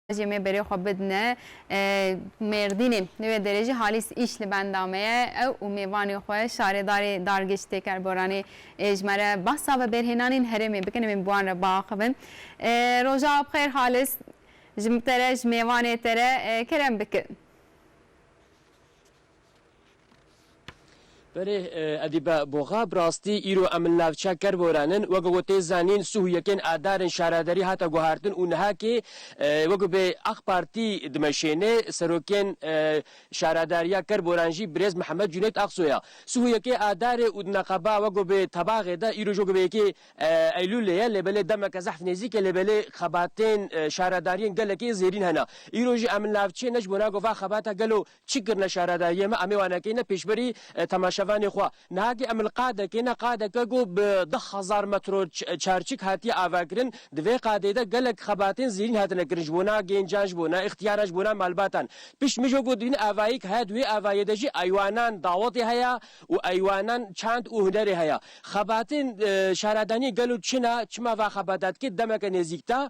Jê me berê xwe bidine Mêrdînê. Li wê derê jî Halîs îş li benda me ye. Ew û mêvanê xwe şarêdarê dargêj Têker Boranê ji me re behsa vebêrhênanên herêmê bikin em ên bi wan re biaxivin. Roja bi xêr Halîs. Ji te re ji mêvanê te re kerem bikin. Berê Edîbe Boxa, bi rastî îro em li navçeya Kerboran in. Weke ku tê zanîn sih û yekên adarên şaredarî hate guhertin û nihakê weke bê Aq Partî dimeşêne. Serokên şaredariya Kerboran jî birêz Mihemed Cunêt Aksoy e. Sih û yekê adarê û di neqeba weke bê tebaxê de îro jî weke bê yekê Eylûlê ye. Lê belê demeke zehf nêzîk e lê belê xebatên şaredariyên gelekî zêrîn hene. Îro jî em li navçeyê ne ji bo nagê va xebata gelo Çi kirine şehra de yê me em ê wan nekîne pêşberî temaşevanê xwe. Nihakî em li qadekê ne qadeke ku bi du hezar metro çarçik hatiye avekirin. Di vê qadê de gelek xebatên zêrîn hatine kirin ji bona gêncan, ji bona îxtiyaran, ji bona malbatan. Pişt mijo ku dibîne avayî ki heye di wê avayê de jî eywanan dawetê heye û eywanan çand û hunerê heye. Xebatên şehradaniyê gelo çi ne, çima va xebata dike demeke nêzîk de.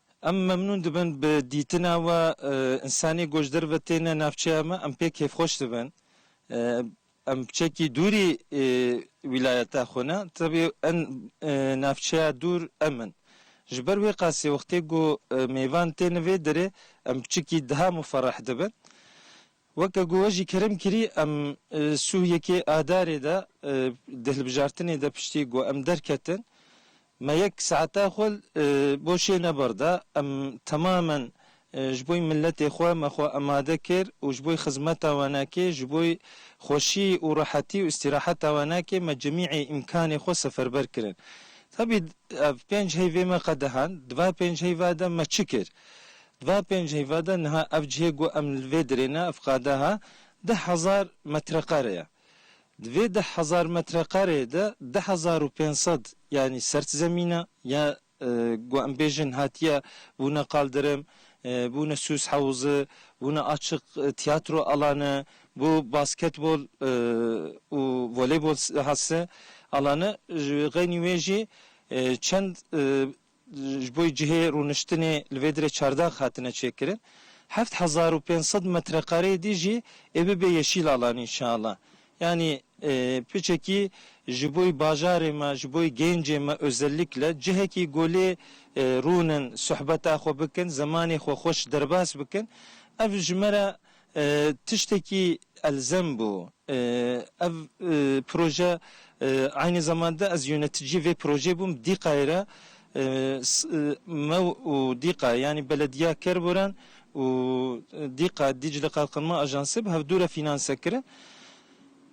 Em memnûn dibin bi dîtina we, însanî ku ji derve têne navçeya me, em pê kêfxweş dibin. Em çekî dûrî wîlayeta xwe ne, tevî en navçeya dûr em in. Ji ber wê qasî wextê ku mêvan têne vê derê em çikî diha muferreh dibin. Weke ku we jî kerim kirî em sûh yekê adarê de di hilbijartinê de piştî ku em derketin me yek saeta xwe bo şê nebar da. Em temamen ji bo miletê xwe me xwe emade kir û ji bo xizmeta wenekê, ji bo xweşî û rehetî û îstîraheta wenekê me cemîê îmkanê xwe seferber kirin. Tabî ev pênc heyvê me qedehand. Di va pênc heyva de me çi kir? Di va pênc heyva de niha ev cihê ku em li vê dirê ne, ev qadeha deh hezar metreqare ye. Di vê deh hezar metreqareyê de deh hezar û pênc sed yanî sert zemîn e ya ku em bêjin hatiye bûne qaldirim, bûne sûs hewzi, bûne açik tiyatro alane, bû basketbol û voleybol hat se alane. Ji xeynî wê jî çend Ji bo cihê rûniştinê li vê dirê çardax hatine çêkirin. Heft hezar û pênc sed metrekareyê dî jî ê bibe yeşîl alan înşeallah. Yanî piçekî ji bo bajarê me, ji bo gêncê me ozellîkle cihekî ku lê rûnin, suhbeta xwe bikin, zemanê xwe xweş derbas bikin ev ji me re Tiştekî elzem bû. Ev proje aynî zeman de ez yöneticiyê vê projeyê bûm. Dîqayê re me û Dîqa yanî Belediya Kerboran û Dîqa Dîcle Qalqinma Ajansê bi hevdû re fînanse kirin.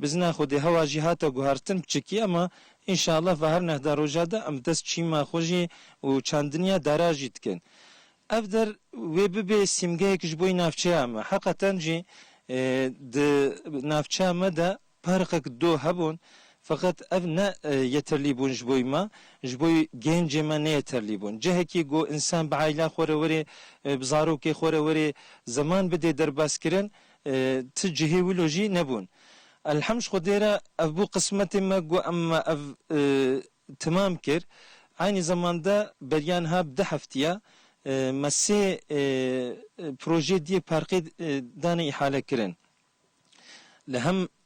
Bizina xwe dê hewa jî hate guhertin piçikî ema înşallah va her nehda roja de em dest çîma xwe jî û çandiniya dara jî dikin. Ev der wê bibê sîmgeyek ji boî navçeya me. Heqeten jî di navçeya me de parqek do hebûn feqet ev ne yeterlî bûn ji boî me, ji boî gêncê me nêyeterlî bûn. Cihekî ku însan bi aîla xwe re werê, bi zarokê xwe re werê zaman bidê derbaskirin Ti cihê wilo jî nebûn. Elhemd ji Xwedê re ev bû qismetê me ku em ev timam kir. Eynî zeman de beriya niha bi du heftiya me sê projeyê di yek parkê dane îhalekirin. Li hem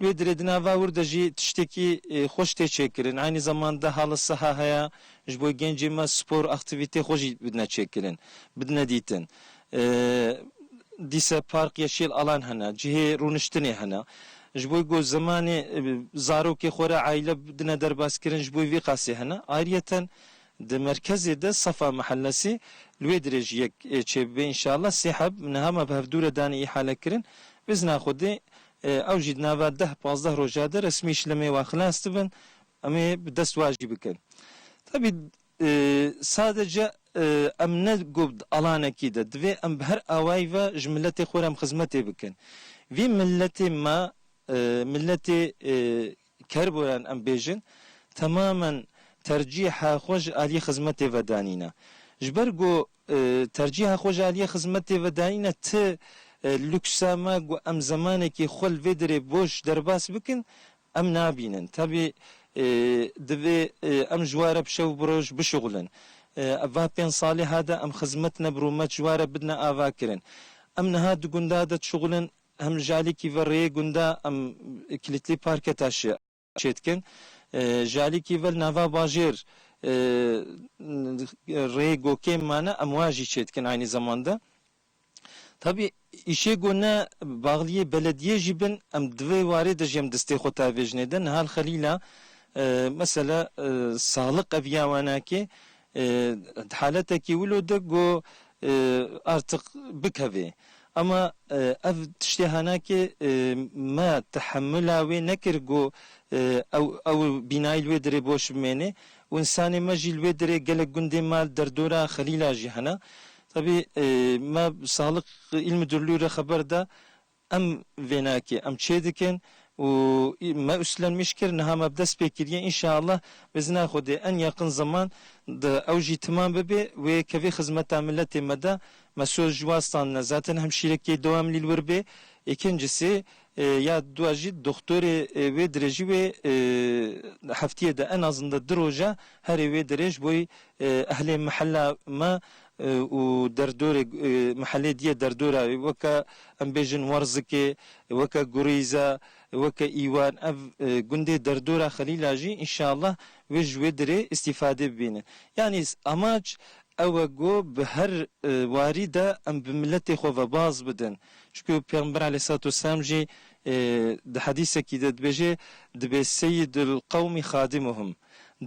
Wê dirê di nava wir de jî tiştekî xweş tê çêkirin. Eynî zeman de hala siha heye, ji bo gencên me spor, aktîvîteyê xwe jî bidine çêkirin, bidine dîtin. Dîse park ya şêl alan hene, cihê rûniştinê hene. Ji bo ku zemanê zarokê xwe re aîle bidine derbaskirin ji bo vî qasî hene. Ayriyeten di merkezê de Safa Mehellesê li wê dirê jî yek çêbibe înşallah. Sê heb niha me bi hevdû re danê îhalekirin. Bizna Xwedê Ew jî di nava deh pazdeh roja de resmî ji lemê wan xilas dibin, em ê bi dest wan jî bikin. Tevî sadece em ne gob di alanekî de, divê em bi her awayî ve ji miletê xwe re em xizmetê bikin. Vî miletê me miletê Kerboran em bêjin temamen tercîha xwe ji aliyê xizmetê ve danîne. Ji ber ku tercîha xwe ji aliyê xizmetê ve danîne ti luksa me ku em zemanekî xwe li vê derê boş derbas bikin em nabînin. Tevî divê em ji were bi şev bi roj bişuxulin. Va pênc saliha de em xizmet ne bi rûmet ji were bidine avakirin. Em niha di gunda de dişuxulin Em li Jalîkî ve rêyê gunda em Kilîtlî Parke Taşê çê dikin. Ji Alîkî ve li nava bajêr rêyê Gokêm mane em wa jî çê dikin aynî zeman de. Tabî îşê ku ne baxliyê belediyê jî bin em di vê warê de jî em destê xwe tavêjinê de. Niha li Xelîla mesele saliq eviya wenakê Di haletekî wilo de ku artiq bikevê. Ama ev tiştê hene ke me tehemula wê nekir ku ew bînayê li wê dirê boş bimêne û însanê me jî li wê dirê gelek gundên me li derdora Xelîla jî hene. Tevî me Saxlıq îl Mudurlû re xeber da Em vênakê em çêdikin û me uslenmiş kir niha me bi dest pê kiriye înşeallah bi izina Xwedê en yaqin zeman de ew jî timam bibê wê kevê xizmeta miletê me de me soz ji wan standine zaten hemşîrekê do em lîl wir bê îkincisî ya dua jî doxtorê wê dirêjî wê heftiyê de en azinde du roja herê wê dirêj boy ehlê mihella me û derdorê mehellê diyê derdora wê weke em bêjin Warzikê, weke Gurîze, weke Îwan ev gundê derdora Xelîla jî înşeallah wê ji wê dirê îstîfadê bibîne. Yanî amac ew e ku bi her warî de em bi miletê xwe ve baz bidin. Çunku Pêxember aleyhisselatüsselam jî di hedîsekî de dibêje, dibê seyyidul qewmî xadimuhum.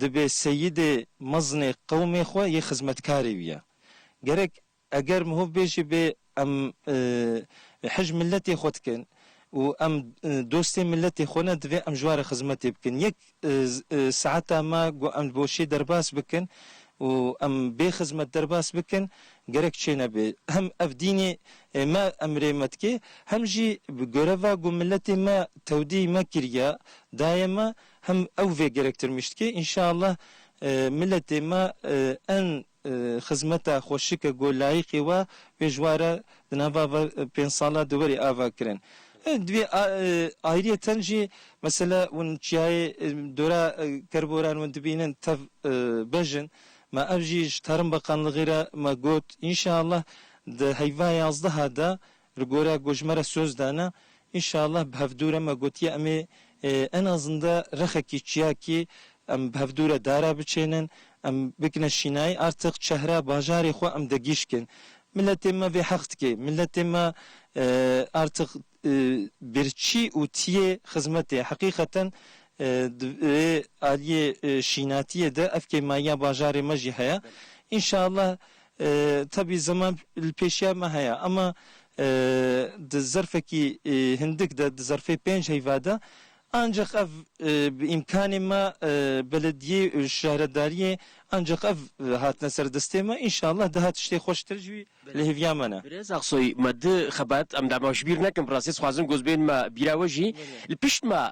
Dibê seyidê mezinê qewmê xwe yê xizmetkarê wiya. Gerek eger mihov bêjê bê em hij miletê xwe dikin û em dostê miletê xwe ne divê em ji ware xizmetê bikin. Yek saeta me ku em bo şê derbas bikin û em bê xizmet derbas bikin gerek çê nebe. Hem ev dînê me emrê me dike hem jî bi goreva ku miletê me tewdî me kiriya dayê me Hem ew vê gerektirmiş dike. Înşeallah miletê me en xizmeta xweşike ku layiqê we wê ji wa re di nava va pênc sala di werê ava kirin. Divê ayriyeten jî mesela hûn çiyayê dora kerboran hûn dibînin tev bej in. Me ev jî ji Tarım Bakanlığî re me got. Înşeallah di heyva yazdeh a de Li gora ku ji me re soz dane, înşallah bi hevdû re me gotiye em ê en azinde rexekî çiyakî em bi hevdû re dara biçênin, em bikine şînayî artiq çehra bajarê xwe em digîşkin. Miletê me vê heq dike. Miletê me artiq birçî û tiyê xizmetê. Heqîqeten di vê aliyê şînatiyê de ev kêmayiya bajarê me jî heye. Înşallah Tebî zeman li pêşiya me heye ema di zerfekî hindik de di zerfê pênc heyva de ancaq ev bi îmkanê me belediyê û şaredariyê ancaq ev hatine ser destê me înşallah daha tiştê xweştir jî li hêviya me ne. Birêz Aksoy, Me du xebet, em dema ji bîr nekin bi rastî dixwazin goz bên me bîra we jî li pişt me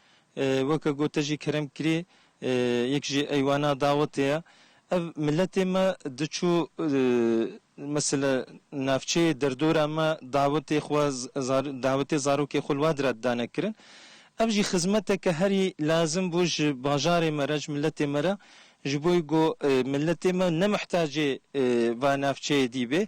Weke ku te jî kerem kirî, yek jî eywana dawetê ye. Ev miletê me diçû mesela navçeyê derdora me dawetê xwe dawetê zarokê xwe li we dire didane kirin. Ev jî xizmeteke herî lazim bû ji bajarê me re ji miletê me re ji bo ku miletê me ne mihtacê va navçeyê dî bê.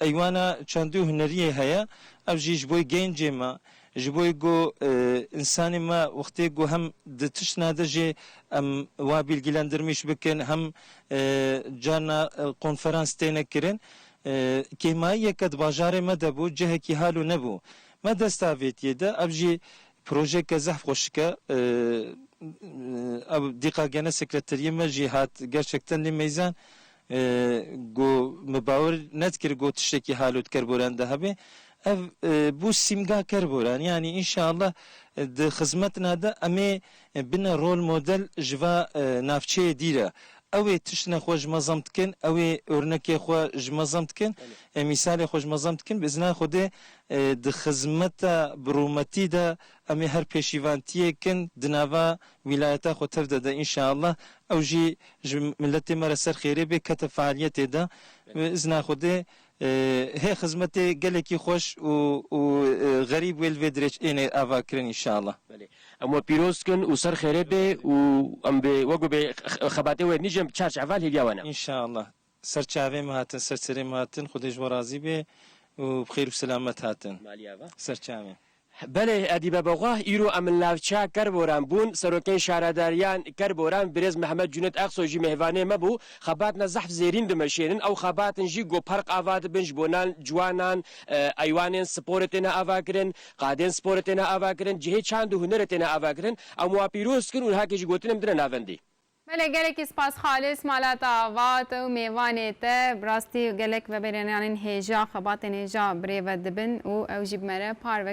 Eywana çandî û huneriyê heye. Ev jî ji bo gencê me, ji bo ku însanê me wextê ku hem di tiştine de jî em wiha bîlgîlendirmîş bikin hem carna konferans têne kirin. Kêmayiyeke di bajarê me de bû, cihekî hal û nebû. Me dest avêtiye de ev jî projeyeke zehf xweşik e. Ew dîqa gene sekreteriyê me jî hat gerçekten lê meyzan Go min bawer nedikir go tiştekî halûtker boran de hebe. Ev bû sîmgaker boran yanî înşeallah di xizmetina de em ê bine rol model ji va navçeyê dî re. Ew ê tiştine xwe ji mezam dikin, ew ê ornekê xwe ji mezam dikin, mîsalê xwe ji mezam dikin. Bi îzna Xwedê di xizmeta bi rûmetî de em ê her pêşîvantiyek in di nava Wîlayeta xwe tev dede înşeallah. Ew jî ji miletê me re ser xêrê bê kete fealiyetê de. Bi izna Xwedê hê xizmetê gelekî xweş û û xerîb wê li vê dirêç ênê ava kirin înşeallah. Belê. Em we pîroz dikin û ser xêrê bê û em bi wek wê bê xebatê wê nîjên bi çar çeval hêviya we ne. Înşeallah. Ser çavê min hatin, ser serê min hatin, Xwedê ji we razî bê û bi xêr û selamet hatin ser çavê. Belê edî bebexwah îro em li navçeya Kerboran bûn, serokên şaredariyan Kerboran birêz Mehmet Cunêt Exsoy jî mêvanê me bû, xebat ne zehf zêrîn dimeşênin, ew xebatin jî ku park ava dibin ji bo nan ciwanan, eywanên sporê têne avakirin, qadên sporê têne avakirin, cihê çand û hunerê têne avakirin, em wa pîroz dikin û niha kê jî gotinê min dine navendî. Belê gelekî spas xalis mala te avat ew mêvanê te bi rastî gelek veberênanên hêja xebatên hêja birêve dibin û ew jî bi me re par